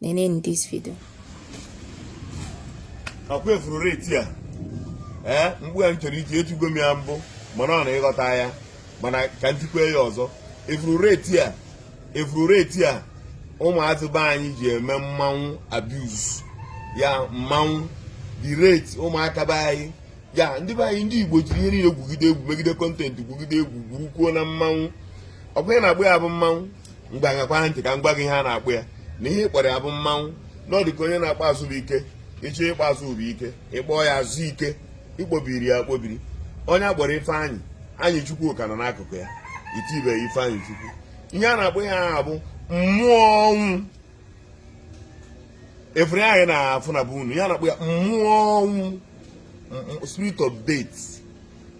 nenenu this video ọkwa ị fụrụ rate a ee eh, mgbe m chọrọ iti etigo m ya mbụ mana ọ na ịghọta ya mana ka m tikwe ya ọzọ ị fụrụ rate a ị fụrụ rate a ụmụazị be anyị ji eme mmanwụ abuse ya mmanwụ the rate ụmụaka be anyị ya ndị be anyị ndị igbo jiri ihe niile gwugide egwu megide content gwugide egwu gwuru kwuo na mmanwụ ọkwa ị na-akpọ ya bụ mmanwụ ngwa gekwa ntị ka m gwa gị ihe a na-akpọ ya na ihe ị kpọrọ ya bụ mmanwụ na ọ dịka onye a na-akpọ azụbụike ị chọọ ịkpọ azụbụike ị kpọọ ya azụike ị kpọbiri ya akpọbiri onye akpọrọ ifeanyị anyị chukwu ka nọ n'akụkụ ya i tibe ifeanyị chukwu ihe a na-akpọ ya bụ mmụọ ọnwụ ị fụrụ ihe anyị na-afụ na be unu ihe a na-akpọ ya mmụọ ọnwụ spirit of death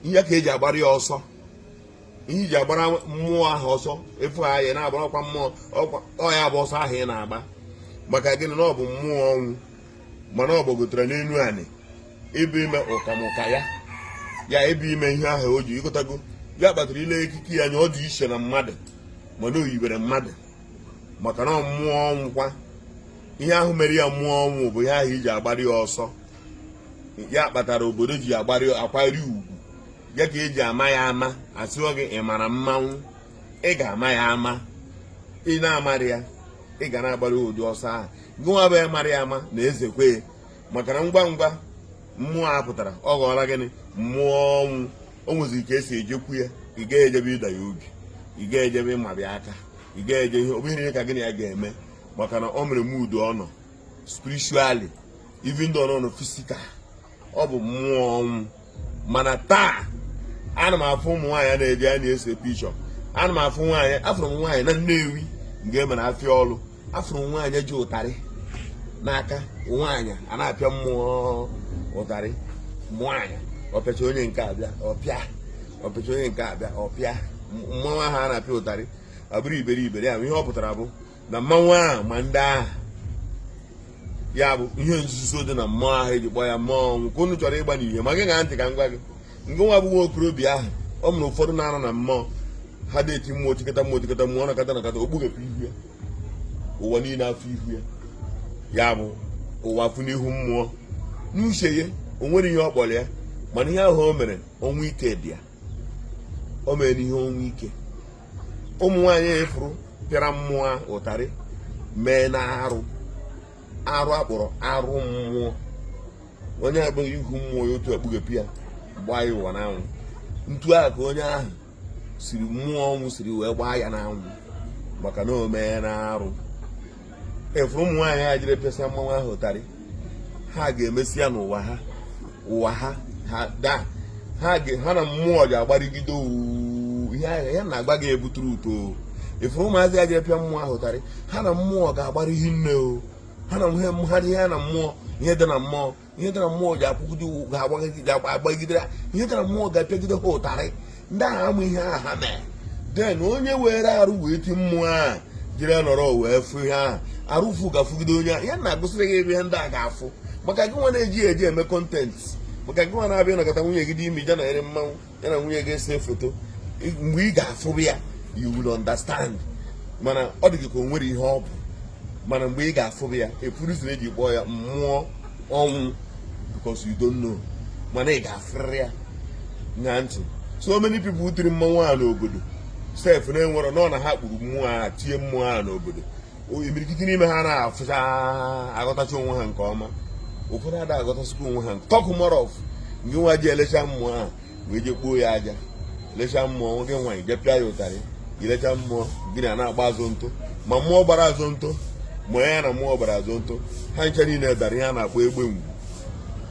ihe ka eji agbara ya ọsọ ihe eji agbara mmụọ ahụ ọsọ ị fụ ihe anyị na-agbara ọkwa mmụọ ọ ya bụ ọsọ ahụ ị na-agba maka gịnị na ọ bụ mmụọ ọnwụ mana ọ gbagotere n'elu anị ịbụ ime ụkamụka ya ya ịbụ ime ihe ahụ o ji ị ghọtago ya kpatara i lee ekike ya anya ọ dị iche na mmadụ mana o yibere mmadụ maka na mmụọ ọnwụ kwa ihe ahụ mere ya mmụọ ọnwụ bụ ihe ahụ eji agbara ya ọsọ ya kpatara obodo ji agbara akwara ya ugwu ya ka eji ama ya ama asị gị ị mara mmanwụ ị ga-ama ya ama ị na-amarị ya ị ga na-agbara ụdị ọsọ ahụ gịnwa bụ ya mara ya ama na-ezekwe maka na ngwa ngwa mmụọ a pụtara ọ ghọọla gịnị mmụọ ọnwụ o nwezi ka esi ejekwu ya ị ga-ejebe ịda ya obi ị ga-ejebe ịmabe ya aka ị ga-eje ihe ọ bụ ihe ka gịnị ya ga-eme maka na o mere mmụọ though ọ nọ spiritually even though ọ nọ physical ọ bụ mmụọ ọnwụ mana taa ana m afụ ụmụ nwaanyị na-eje ha na ya ese picture ana m afụ nwaanyị afụrụ m nwaanyị na Nnewi nge emere afịa ọlụ afụrụ m nwaanyị ji ụtarị n'aka nwaanyị a na-apịa mmụọ ụtarị nwaanyị ọ pịacha onye nke a bịa ọ pịa ọ pịacha onye nke a bịa ọ pịa mmanwụ ahụ a na-apịa ụtarị abụrụ iberibe ya ihe ọ pụtara bụ na mmanwụ ahụ ma ndị ahụ ya bụ ihe nzuzo dị na mmụọ ahụ eji kpọọ ya mmụọ ọnwụ ka unu chọrọ ịgba n'ihe ma gị gee ntị ka m gwa gị nke nwa bụ nwa okorobịa ahụ o nwere ụfọdụ na-anọ na mmụọ ha na-eti mmụọ o tikata mmụọ o tikata mmụọ ọ nọkata nọkata o kpughepụ ihu ya ụwa niile afụ ihu ya ya bụ ụwa afụna ihu mmụọ n'uche ya o nwere ihe ọ kpọrọ ya mana ihe ahụ o mere ọnwụ ike dị ya o mere ihe ọnwụ ike ụmụ nwaanyị ị fụrụ pịara mmụọ ụtarị meena arụ arụ akpọrọ arụ mmụọ onye kpughe ihu mmụọ ya otu ekpughepụ ya gbaa ya ụwa n'anwụ otu a ka onye ahụ siri mmụọ ọnwụ siri wee gbaa ya n'anwụ maka na o meena arụ ị fụrụ ụmụ nwaanyị a jiri pịasịa mmanwụ ahụ ụtarị ha ga-emesi ya n'ụwa ha ụwa ha ha daa ha na mmụọ ja-agbarigide ihe ahụ ya na-agba gị ebuturu uto ị fụrụ ụmụazị a jiri pịa mmụọ ahụ ụtarị ha na mmụọ ga-agbara ihe nne o ha na ihe ha na mmụọ ihe dị na mmụọ ihe dị na mmụọ ji akwụgide iwu ga-agbagide agbagidere ihe dị na mmụọ ga-apịagide ha ụtarị ndị ahụ ama ihe ahụ ha mee then onye were arụ wee ti mmụọ ahụ jiri nọrọ wee fụ ihe ahụ arụ ụfụ ga-afụgide onye ahụ ya na-agụsịrị gị ebe ihe ndị a ga-afụ maka gị nwa na-eji eji eme content maka gị nwa na-abịa nọkọta nwunye gị dị ime ije na ere mmanwụ ya na nwunye ga-ese foto mgbe ị ga-afụrụ ya you will understand mana ọ dị gị ka o nwere ihe ọ bụ mana mgbe ị ga-afụrụ ya ị fụ reason e ji kpọọ ya mmụọ ọnwụ because you don't know mana ị ga-afụrịrị ya na ntị so many people tiri mmanwụ a n'obodo sef na-enwerọ nọ na ha kpuru mmụọ a tie mmụọ a n'obodo imirikiti n'ime ha na-afụcha aghọtacha onwe ha nke ọma ụfọdụ ada aghọtasịkwa onwe ha talk more of nke nwa ji elecha mmụọ ahụ wee je kpuo ya aja lecha mmụọ nwoke nwaanyị je pịa ya ụtarị ilecha mmụọ gịnị a na-agba azụ ntụ ma mmụọ gbara azụ ntụ ma ya na mmụọ gbara azụ ntụ ha ncha niile dara ihe a na-akpọ egbe ngwu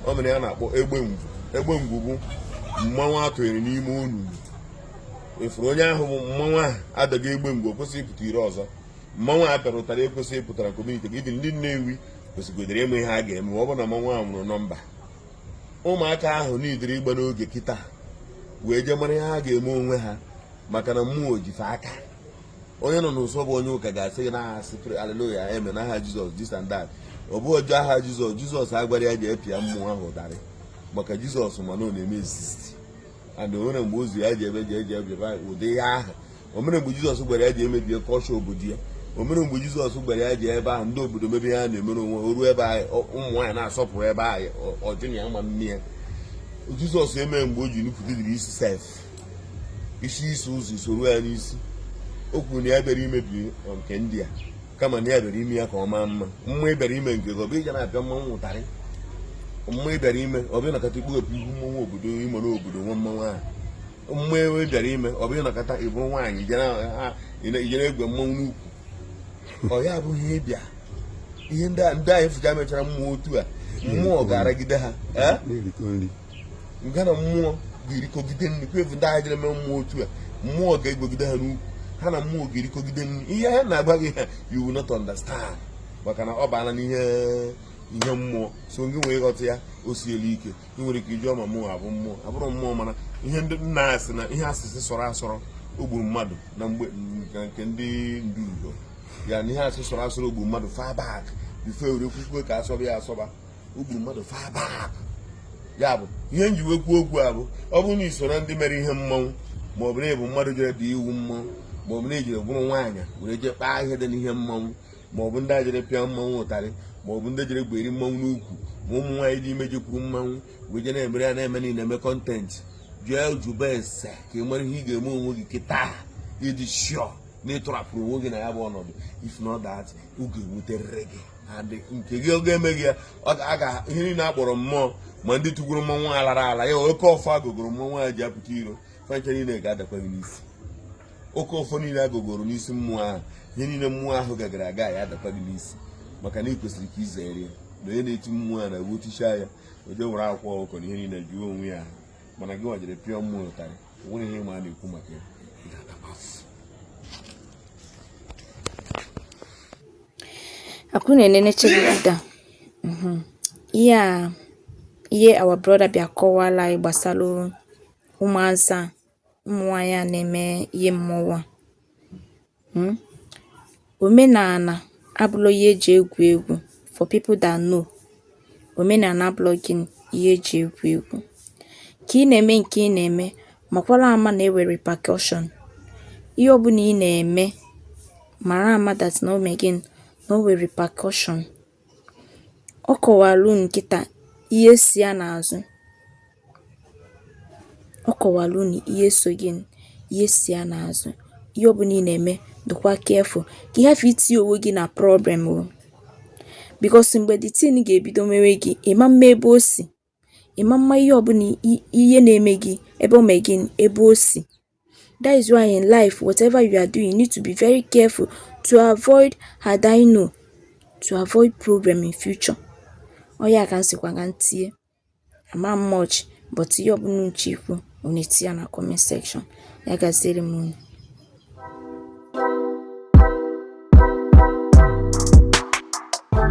o nwere ihe a na-akpọ egbe ngwu egbe ngwu bụ mmanwụ atụnyere n'ime ọnụ ị fụrụ onye ahụ bụ mmanwụ ahụ adago egbe ngwu o kwesịrọ ịpụta iro ọzọ mmanwụ a pịara ụtarị ekwesị ịpụtara community gị even ndị Nnewi kwesịgodere ịma ihe a ga-eme ma ọ bụ na mmanwụ a nwụrụ nọmba ụmụaka ahụ needịrị ịgba n'oge kịta wee jee mara ihe ha ga-eme onwe ha maka na mmụọ jife aka onye nọ n'ụsọ bụ onye ụka ga-asị gị n'aha sịpụrụ aleluya eme n'aha jizọs this and that ọ bụ o ji aha jizọs jizọs agwara ya je pịa mmụọ ahụ ụtarị maka jizọs ma na ọ na-exist and o nwere mgbe o zi ya je ebe ji eji ebiba ụdị ya ahụ o nwere mgbe jizọs gwara ya je mebie culture obodo ya o nwere mgbe jizọs gwara ya je ebe ahụ ndị obodo mebe ha na-emere onwe o ruo ebe ahụ ụmụ nwaanyị na-asọpụrụ ebe ahụ ọjụ na ya ma nne ya jizọs enwe mgbe o ji nupụta dịrị isi sef isi isi ụzọ isoro ya n'isi o kwuru na ya bịara imebi nke ndị a kama na ya bịara ime ya ka ọ maa mma mma ị bịara ime nke gị ọ bụ ije na-apịa mmanwụ ụtarị mma ị bịara ime ọ bụ ịnakọta ikpughepụ ihu mmanwụ obodo imerụ obodo nwe mmanwụ ahụ mma ị bịara ime ọ bụ ịnakọta ịbụrụ nwaanyị ije na-egwe mmanwụ n'ukwu ọ ya bụ ihe ị bịa ihe ndị a ị fụcha mechara mmụọ otu a mmụọ ga-aragide ha nga na mmụọ ga-erikọgide nri kwevu ndị ahụ jere mee mmụọ otu a mmụọ ga-egwegide ha n'ukwu ha na mmụọ ga-erikọgide nri ihe ha na-agwa gị ha you will not understand maka na ọ baala n'ihe ihe mmụọ so gịnwa ịghọta ya o siela ike ị nwere ike iji ọma mmụọ abụ mmụọ abụrụ mmụọ mana ihe ndị na-asị na ihe a sị sị sọrọ asọrọ o gburu mmadụ na mgbe nke ndị ndu udo ya na ihe a sị sọrọ asọrọ o gburu mmadụ far back before e were kwukwe ka a sọba ya asọba o gburu mmadụ far back ya bụ ihe m ji wee kwuo okwu a bụ ọ bụrụ na i soro ndị mere ihe mmanwụ ma ọ bụ na ị bụ mmadụ jere daa iwu mmanwụ ma ọ bụ na i jiri bụrụ nwaanyị were jee kpaa ihe dị n'ihe mmanwụ ma ọ bụ ndị a jere pịa mmanwụ ụtarị ma ọ bụ ndị jere gweri mmanwụ n'ukwu ma ụmụ nwaanyị dị ime jekwuru mmanwụ wee je na-emere ya na-eme niile eme content jụọ jụba ese ka ị mara ihe ị ga-eme onwe gị kịta ị dị sure na ị tọrapụrụ onwe gị na ya bụ ọnọdụ if not that ọ ga-ewuterịrị gị adị nke gị ọ ga-eme gị ya ihe niile a kpọrọ mmụọ ma ndị tigoro mmọnwụ a lara ala ya oke ọfọ a gọgoro mmọnwụ a ji apụta iro fa ncha niile ga-adakwa gị n'isi oke ọfọ niile a gọgoro n'isi mmụọ ahụ ihe niile mmụọ ahụ gagara aga ya adakwa gị n'isi maka na ị kwesịrị ka i zere ya na onye na-eti mmụọ a na-ekwu o tichaa ya o jee were akwa ọkụkọ na ihe niile jụọ onwe ya mana gịnwa jere pịa mmụọ ụtarị o nwere ihe ma a na-ekwu maka ya Ka unu na-enenecha video a mhm. ihe a ihe our brother bịa kọwara anyị gbasara ụmụazị a ụmụ nwaanyị a na-eme ihe mmọnwụ a hmm? omenala abụrọ ihe e ji egwu egwu for people that know omenala abụrọ gịnị ihe e ji egwu egwu. Ka ị na-eme nke ị na-eme, makwara ama na e nwere repercussion. Ihe ọbụla ị na-eme, mara ama that na o mee gịnị, na o nwere repercussion. Ọ kọwara unu kịta ihe si ya n'azụ. ọ kọ̀wàrà unù ihe sò gịnị ihe sì ya n'àzụ ihe ọ̀bụlà ị nà-ème dị̀kwa careful kà ị hafù itīnye ònwe gi nà problem ò because m̀gbè the thing gà-èbido mewe gi ị̀ ma ama ebe o sì ị̀ ma ama ihe ọ̀bụlà ihe na-eme gi ebe o mè gini ebe o sì that is why in life whatever you are doing you need to be very careful to avoid had I know to avoid problem in future ọ ya kà m sị̀kwà kà m tinye ama m much but ihe ọbụla unu che ikwu unu eti ya na comment section ya gaziere m unu